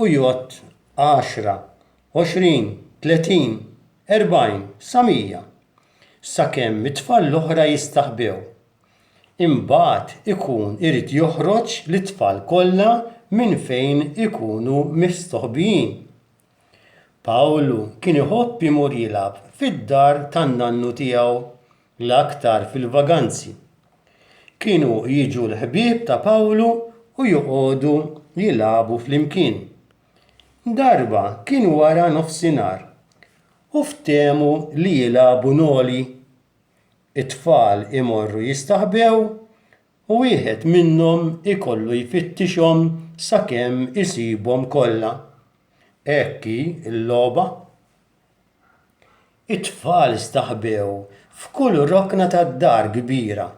u jgħodd għaxra, għoxrin, tletin, erbgħin, sa mija, sakemm it-tfal l-oħra jistaħbew. Imbagħad ikun irid joħroġ lit-tfal kollha minn fejn ikunu mistoħbijin. Pawlu kien iħobb imur jilgħab fid-dar tan-nannu tiegħu l-aktar fil-vaganzi. Kienu jiġu l-ħbieb ta' Pawlu u joqogħdu jilagħbu flimkien. Darba kien wara nofsinhar u ftehmu li jilagħbu noli. It-tfal imorru jistaħbew u wieħed minnhom ikollu jfittixhom sakemm isibhom kollha. Hekk hi l-logħba. It-tfal staħbew f'kull rokna tad-dar kbira,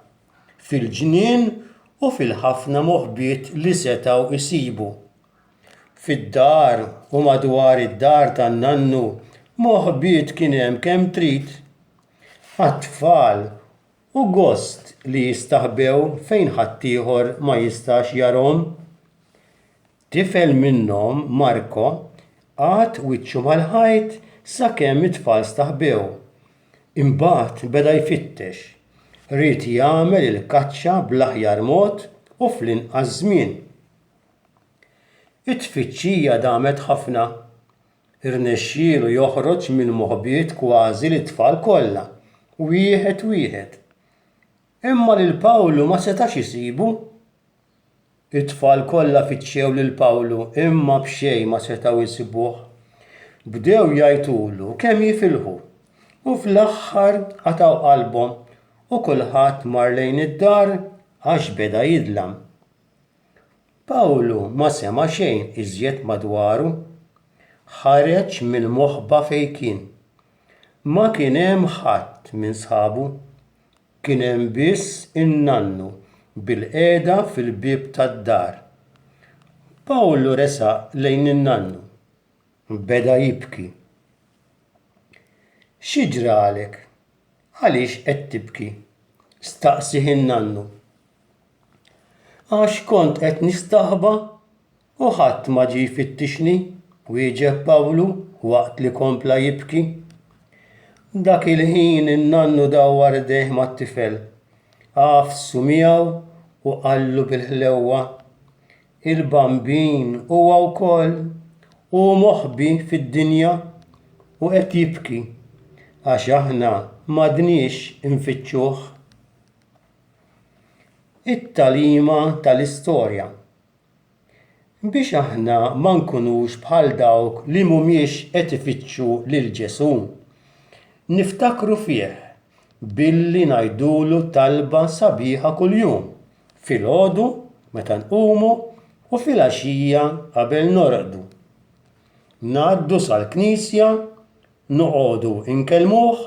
fil-ġnien u fil-ħafna moħbiet li setgħu jsibu. Fid-dar u madwar id-dar tan-nannu moħbiet kien hemm kemm trid. Għat-tfal hu gost li jistaħbew fejn ħaddieħor ma jistax jarahom. Tifel minnhom, Marco, qagħad wiċċu mal-ħajt sakemm it-tfal staħbew. Imbagħad beda jfittex. Ried jagħmel il-kaċċa bl-aħjar mod u fl-inqas żmien. It-tfittxija damet ħafna. Irnexxielu joħroġ mill-moħbiet kważi lit-tfal kollha, wieħed wieħed. Imma lil Pawlu ma setax isibu. It-tfal kollha fittxew lil Pawlu, imma b'xejn ma setgħu jsibuh. Bdew jgħajtulu kemm jifilħu, u fl-aħħar qatgħu qalbhom u kulħadd mar lejn id-dar għax beda jidlam. Pawlu ma sema' xejn iżjed madwaru. Ħareġ mill-moħba fejn kien. Ma kien hemm ħadd minn sħabu. kien hemm biss in-nannu bilqiegħda fil-bieb tad-dar. Pawlu resaq lejn in-nannu. Beda jibki. Xi ġralek? Għaliex qed tibki? staqsieh in-nannu. Għax kont qed nistaħba U ħadd ma ġie jfittixni, wieġeb Pawlu waqt li kompla jibki. Dak il-ħin in-nannu dawwar idejh mat-tifel, għafsu miegħu u qallu bil-ħlewwa, Il-Bambin huwa wkoll, hu moħbi fid-dinja u qed jibki, għax aħna m'għadniex infittxuh. It-tagħlima tal-istorja biex aħna ma nkunux bħal dawk li mhumiex qed ifittxu lil Ġesù. Niftakru fih billi ngħidulu talba sabiħa kuljum, filgħodu meta nqumu u filgħaxija qabel norqdu. Ngħaddu sal-knisja, noqogħdu nkellmuh